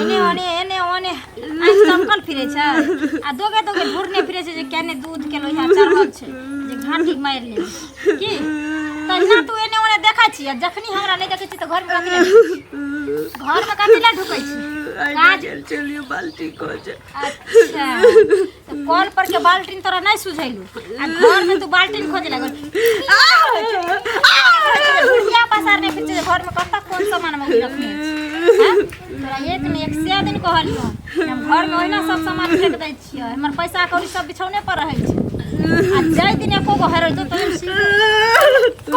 एने ओने एने ओने आँखि तमकल फिरे छै आ दोगे दोगे ढूरने फिरे छै जे केने दूध के लोहिया चढ़ल छै जे घाटी मारि ले की तहिना तू एने ओने देखै छी आ जखनी हमरा नहि देखै छी तऽ घर मे कथी लए ढुकै छी? घर मे कथी लए ढुकै छी काज चलियो बाल्टी को जे अच्छा तो कॉल पर के बाल्टीन तोरा नहीं सुझैलू आ घर में तू बाल्टीन खोजे लगल बुढ़िया पसार नहीं फिर घर में कत्ता कौन सामान में रखने हैं? तोरा एक ने एक से दिन कहलियो हम घर में ओहिना सब सामान फेंक दै छियो हमर पैसा कौड़ी सब बिछौने पर रहै छै आ जाय दिन एको गो हेरल तो तोहर सीधे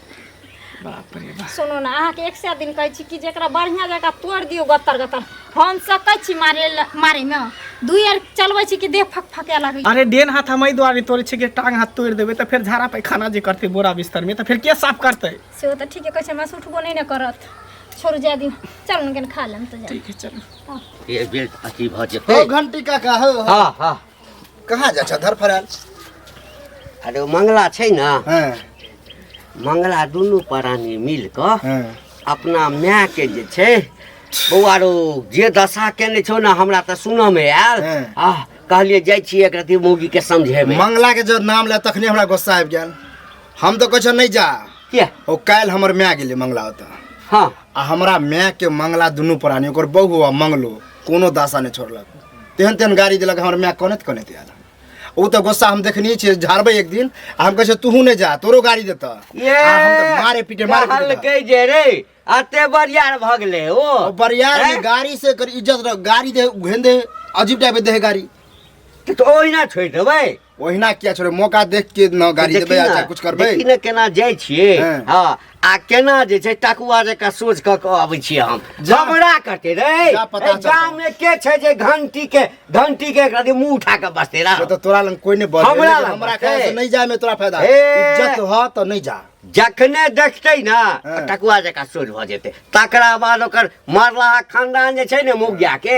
बाप रे बाप सुनू ने अहाँके एक सए दिन कहै छी कि जेकरा बढ़िया जगह तोड़ दियौ गत्तर गत्तर हम सकै छी मारे मारे में दू यार चलबै छी कि देह फक फके लगै अरे डेन हाथ हम एहि दुआरे तोड़े छी कि टांग हाथ तोड़ देबे तऽ फेर झाड़ा पैखाना जे करते बोरा बिस्तर में तऽ फेर के साफ करते से तऽ ठीके कहै छै हमरा उठबो नहि ने करत छोड़ जाय दी चल ने खा लेम तऽ ठीक है चलो ये बेल अथी भ जेतै ओ घंटी काका हो हां हां कहाँ जा छह धर फराल अरे ओ मंगला छै ने हाँ मंगला दुनू प्राणी मिल कऽ हाँ अपना माय के जे छै बौआ रो जे दशा केने छौ ने हमरा तऽ सुनऽ मे आयल हँ। आ कहलियै जाइ छियै एक रति मौगी के समझेबै मंगला के जब नाम ले तखने हमरा गुस्सा आबि गेल हम तो कह नहीं जा किया ओ काल्हि हमर माय गेलै मंगला ओतऽ हँ आ हमरा माय के मंगला दुनू प्राणी ओकर बहू आ मंगलो कोनो दासा नहि छोड़लक तेहन तेहन गाड़ी देलक हमर माय कनैत कनैत आयल ओ तऽ गोस्सा हम देखने छियै झाड़बै एक दिन आ हम कहै छियै तूहू नहि जा तोरो गाड़ी देतऽ ये आ हम तऽ मारे पीटे मारे पीटे कहलकै जे रे अते बरियार भऽ गेलै ओ ओ बरियार में हैं? गाड़ी से कर इज्जत रख गाड़ी दे घेन दे अजीब टाइप दे है गाड़ी तऽ ओहिना छोड़ि देबै ओहिना किया छोड़े मौका देख के न गाड़ी देखी देबै ने, अच्छा कुछ करबै देखी ने केना जाइ छियै हँ। हँ आ केना जे छै टकुआ जकाँ सोच कऽ कऽ अबै छियै हम जा। हमरा कटे रे जा पता एहि चलतै। गाममे के छै जे घंटी के घंटी के एकरा मुंह उठा कऽ बसते रह से तऽ तोरा लग कोई नहि बजे हमरा लेकिन लग हमरा बजे। ख्याल से नहीं जाए में तोरा फायदा हे। इज्जत ह तऽ नहीं जा जखने देखतै ने हँ। टकुआ जकाँ सोच भऽ जेतै तकरा बाद ओकर मरलाहा खानदान जे छै ने मुगिया के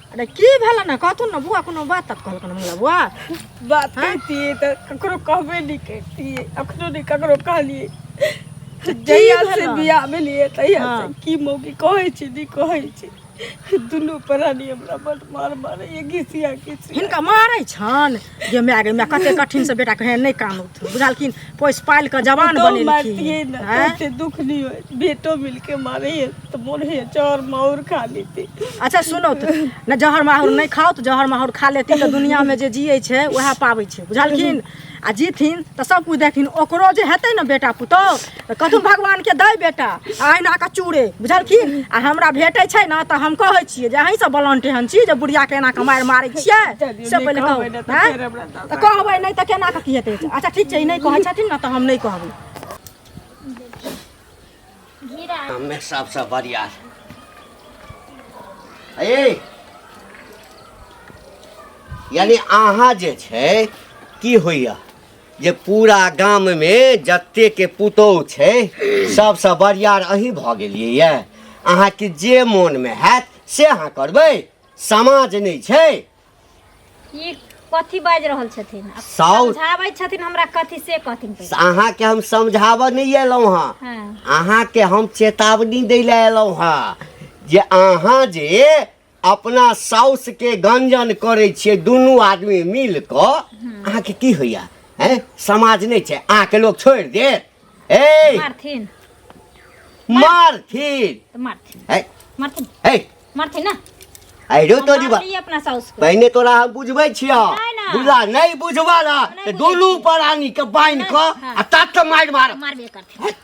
अरे की भेल ना कहथुन ना बुआ कोनो बात तक कहलक ना हमरा बुआ बात कहतिए त ककरो कहबे नहीं करतिए अखनो नहीं ककरो कहलिए जहिया से भेलौ? बियाह भेलिए तहिया से हाँ। की मौकी कहै छी नहीं कहै छी दुनू प्राणी हमरा बड मार मारैए घिसिया घिसिया हिनका मारै छन जे माय गे माय कते कठिन से बेटा कहे नहि कान उठ बुझलखिन पोस पाल के जवान पुतोहु बनेलखिन मारतियै ने हैं? तऽ ओते दुख नहि होय बेटो मिलके मारैए तऽ मोन होइए चौर माउर खा लेती अच्छा सुनो तऽ ने जहर माहौर नहि खाओ तऽ जहर माहौर खा लेती तऽ दुनिया में जे जियै छै वएह पाबै छै बुझलखिन आ जीथिन तऽ सब कुछ देखथिन ओकरो जे हेतै ने बेटा पुतोह तऽ कथु भगवानके दै बेटा आ अहिना कऽ चूड़े बुझलखिन आ हमरा भेटै छै ने तऽ हम कहै छियै जे अहीँसँ बलंट एहन छी जे बुढ़ियाके एना कऽ मारि मारै छियै से पहिले कहबै नहि तऽ कहू फेर हमरा दऽ तऽ कहबै नहि तऽ केना कऽ की हेतै अच्छा ठीक छै ई नहि कहै छथिन ने तऽ हम नहि कहबै हमे सबसँ बढ़िया ए यानी अहाँ जे छै की होइया जे पूरा गाम मे जते के पुतोह छै सबसँ बरियार अही भऽ गेलियै ये अहाँ के जे मोन मे हैत से अहाँ करबै समाज नहि छै ई कथी बाजि रहल छथिन आब साउथ। समझाबै छथिन हमरा कथी से कहथिन पहिले। अहाँ के हम समझाबऽ नहि एलहुँ हँ हाँ अहाँ के हम चेतावनी दै लए एलहुँ हँ जे अहाँ जे अपना साउस के गंजन करे छिए दुनू आदमी मिल क अहाँ के की होइया हैं समाज नहीं छै अहाँ के लोग छोड़ दे ए मारथिन मारथिन तो मारथिन ए मारथिन ए मारथिन ना अरे हम तोरी बा मारलियै अपना साउस को पहिने तोरा हम बुझबै छियौ नहि, नहि। बुझला नहि बुझबा ला नहि तऽ बुझै दुनू छी। परानी के बान्हि नहि, कऽ हँ। आ तत मारि मार मारबे करथिन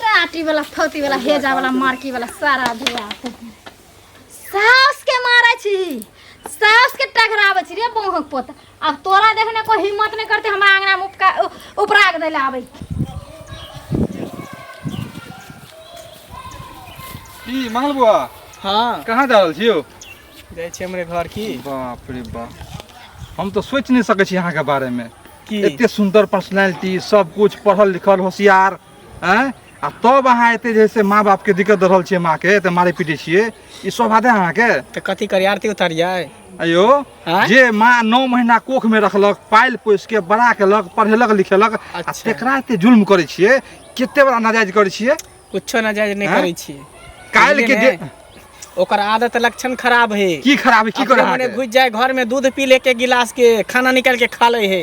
टाटी वाला फौती वाला हेजा वाला मार्की वाला सारा धुआ सास के मारे छी सास के टकरावे छी रे बौहक पोत अब तोरा देखने को हिम्मत नहीं करते हमरा आंगना में उपका उ- उपराग देले आवे की मंगल बुआ हाँ कहाँ जा रहल छियौ जाइ छी हमरे घर की बाप रे बाप हम तो सोच नहीं सकै छी अहाँके बारेमे की एते सुंदर पर्सनैलिटी सब कुछ पढ़ल लिखल होशियार आँय आ तब अहाँ एते जे है से माँ बापके दिक्कत दऽ रहल छियै माँके एते मारै पीटै छियै ई सब हाथे अहाँके तऽ कथी करी आरती उतारियै अयो आँय? जे माँ नौ महीना कोख में रखलक पाइल पोस के बड़ा केलक पढ़ेलक लिखेलक आ अच्छा। तेकरा एते जुल्म करै छियै कते बड़ा नाजायज करै छियै कुछो ना जायज नहि आँय? करै छी काल्हि के बुझलियै जे ने? ओकर आदत लक्षण खराब है की खराब है की करे अपने मने अहाँके? घुस जाए घर में दूध पी ले के गिलास के खाना निकाल के खा ले है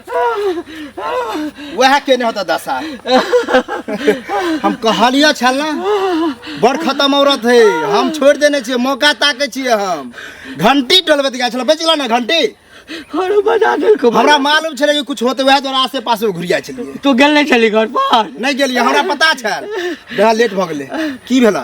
वएह केने होता दशा हम कहलिए छल ना बड़ खत्म औरत है हम छोड़ देने छे मौका ताके छे हम घंटी टोलबैत गए छल बचल ना घंटी और बजा दे को हमरा मालूम छले कि कुछ होते वएह द्वारा आसे पास घुर जाय छलिए तू गेल नहीं छली घर पर नहीं गेलिए हमरा पता छल बड़ा लेट भ गेले की भेला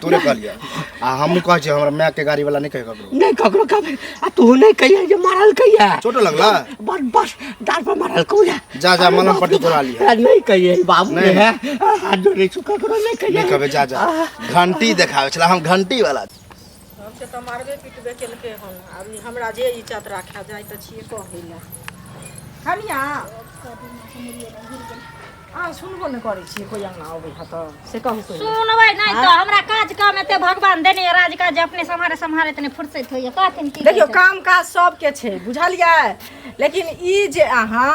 तोरे कहलिए आ हमहूँ कहै छियै हमरा मायके गाड़ीवला नहि कहै ककरो नहीं ककरो कब आ तू नहीं कहिया जे मारल कहिया चोट लगला बस बस डार पर मारल कहिया जा, जा, मलहम पट्टी तोड़ा लिहे। नहीं कहिए बाबू नहीं। नहीं है हाथ जोड़े छु ककरो नहीं कहिए नहि कहबै जा जा घंटी देखाबै छला हम घंटी वाला हमके तऽ मारबे पिटबे केलकै हन आब ई हमरा जे इज्जत राखा जाइ तऽ छियै कहै लए हनिया अहाँ सुनबो ने करै छियै कोइ अङ्गना अबै है तऽ से कहू कोइ सुनबै नहि तऽ हमरा काज काम एते भगवान देने यऽ राज काज जे अपने सम्हारे सम्हारे तने फुर्सत होइए कहथिन की देखियौ कहै काम काज सबके छै बुझलियै लेकिन ई जे अहाँ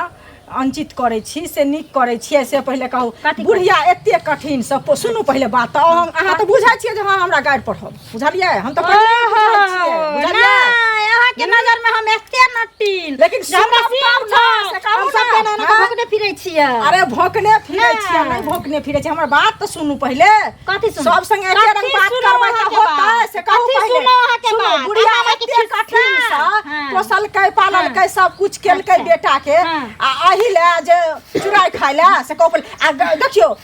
अंचित करै छी से नीक करै छियै से पहिले कहू कथी बुढ़िया एते कठिन सब सुनू पहिले बात तऽ अहाँ- अहाँ तऽ बुझै छियै जे हँ हमरा गाड़ि पढ़ब बुझलिए हम तो के नजर में हम एते नटीन लेकिन हमरा सीन छ से कहू ना हम सब भोकने फिरै छियै अरे भोकने फिरै छियै नै भोकने फिरै छियै हमर बात त सुनू पहिले कथि सुनू सब संगे एके रंग बात करबै त होतै से कहू पहिले सुनो अहाँ के बात बुढ़िया एते कठिन छ हाँ। पोसल कै पालन हाँ। कै सब कुछ केल कै अच्छा। बेटा के हाँ। आ अहि ले जे चुराई खाइला से कहू पहिले आ देखियो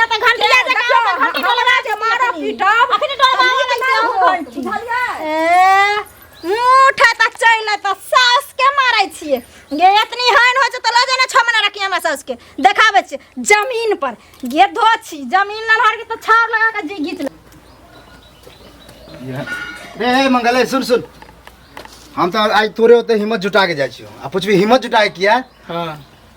ना त घंटिया से देखियो, काम हम घंटी हमरा डोलवा के मारा पीटब। अखनी डोलवा हमनी के ना हो घंटी। बुझलियै? ए मुठ त चैन त सास के मारै छिए गे एतनी हन हो त लऽ जाना छ महीना रखिए हमरा सास के देखाबै छिए जमीन पर गे धो छी जमीन न हर के त छाव लगा के जी घीच ले रे हे मंगल ए, सुन सुन हम तो आज तोरे होते हिम्मत जुटा के जाइ छियो आ पूछबी हिम्मत जुटा के किया हाँ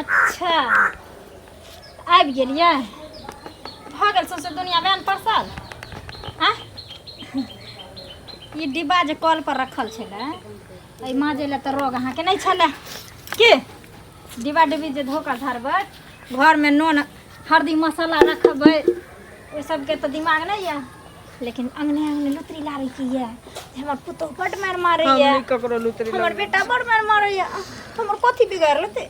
अच्छा आबि गेलियै भऽ गेल सौंसे दुनिया बैन परसल आ ई डिब्बा जे कल पर रखल छलै एहि माँजे लए तऽ रोग अहाँके नहि छलै की डिब्बा डिब्बी जे धो कऽ धरबै घरमे नून हरदी मसाला रखबै ओहि सबके तऽ दिमाग नहि यऽ लेकिन अंगने अंगने लुतरी लाबै की ये हमर पुतो बड मार मारे हम ये नहीं ककरो लुतरी हमर लग बेटा बड मार मारे ये हमर कथी बिगाड़ लेते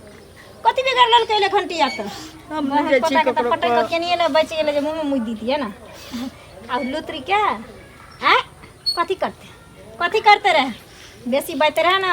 कथी बिगाड़ लेलकै ले घंटिया त हम हमर बुझै छी पोता के त ककरो पटक कह। केनिए ले बच गेलै जे मुंह में मुद दितिए ना आ लुतरी के आ कथी करते कथी करते रहे बेसी बात रहे ना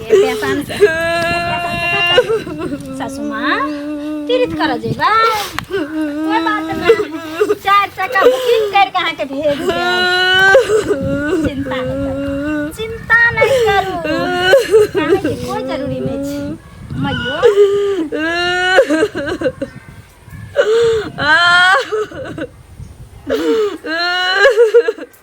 पेशान से सासू माँ पीड़ित कर जेबा कोई बात नहीं चार चक्का बुकिंग कर के अहाँ के भेज देब चिंता नहीं करू चिंता नहीं करू काहे के कोई जरूरी नहीं छै मैयो आ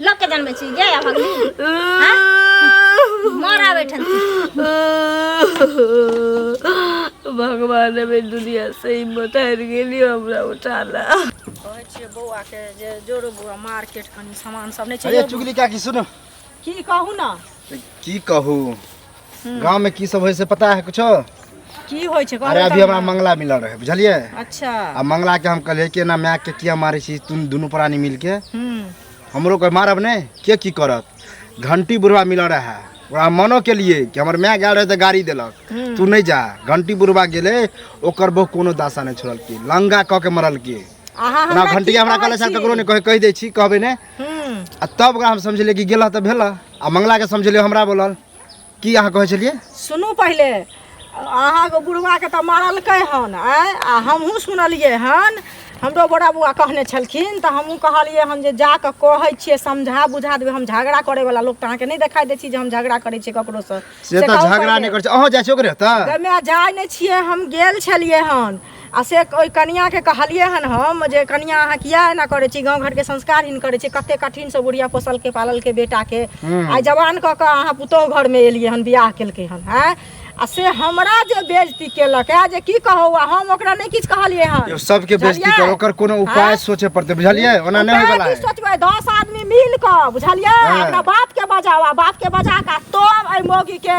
लोक के जानबै छी गे भगली मरा बैठल भगवान अबे दुनिया से हिम्मत हार गेली हमरा उठाला कहै छियै बौआ के जे जोरो बौआ मार्केट कनी सामान सब नहि छै अरे चुगली काकी सुनो की कहू ना की कहू गांव में की सब होय से पता है कुछो की होइ छै अरे अभी हमरा मंगला मिलल रहे बुझलिए अच्छा आ मंगला के हम कहलिए कि ना माय के किया मारे छी तुम दोनों प्राणी मिल के हम्म, हमरो कोई मारब ने के की करत घंटी बुढ़वा मिलल रहे ओकरा हम मनो के लिए कि हमर माय गेल रहे तऽ गाड़ी देलक हम्म। तू नहीं जा घंटी बुढ़वा गेले ओकर बहु कोनो दासा नहीं छोड़ल की लंगा कऽ के मरल की अहाँ हमरा की घंटिया हमरा कहले कहै सर छी? ककरो ने कहे कहि दै छी कहबे ने आ तब ओकरा हम समझलियै कि गेलह तऽ भेलह आ मंगलाके समझलियै हमरा बोलल की अहाँ कहै छलियै सुनू पहिले अहाँके बुढ़वाके तऽ मारलकै हन आँय आ हमहूँ सुनलियै हन हमरो बड़ा बौआ कहने छलखिन तऽ हमहूँ कहलियै हन जे जा कऽ कहै छियै समझा बुझा देबै हम झगड़ा करैवला लोक तऽ अहाँके नहि देखाइ दै छी जे हम झगड़ा करै छियै ककरोसँ से तऽ कहू झगड़ा पहिले। नहि करै छै अहाँ जाइ छियै ओकरे तऽ गमे जाइ नहि छियै हम गेल छलियै हन आ से ओहि कनियाँके कहलियै हन हम जे कनियाँ अहाँ किया एना करै छी गाँव घरके संस्कार हिन करै छी कते कठिनसँ बुढ़िया पोसलकै पाललकै बेटाके आइ जवान कऽ कऽ अहाँ पुतोहु घरमे एलियै हन बियाह केलकै हन आँय आ से हमरा जे बेजती केलक है जे की कहू आ हम ओकरा नहि किछु कहलियै हन यो सबके बेइज्जती बुझलियै? कर ओकर कोनो उपाय आँय? सोचे पड़ते बुझलियै ओना नहि उपाय होयवला की है सोचबै दस आदमी मिल कऽ बुझलियै हाँ। अपना बाप के बजावा बाप के बजा कऽ तब एहि मौगी के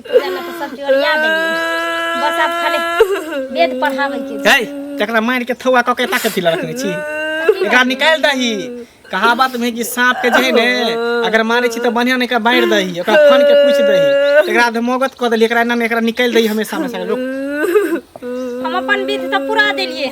जाना तो सब चोरिया देंगे बस आप खाली वेद पढ़ावे के छै। है तकरा मार के थौआ कके ताके पिला रखने छी एकरा निकाल दही कहावत में कि सांप के जे है ने अगर मारे छी तो बढ़िया ने का बांट दही ओकरा फन के पूछ दही एकरा धमोगत क देली एकरा नाम एकरा निकाल दही हमेशा हमेशा लोग हम अपन विध तो पूरा देलिए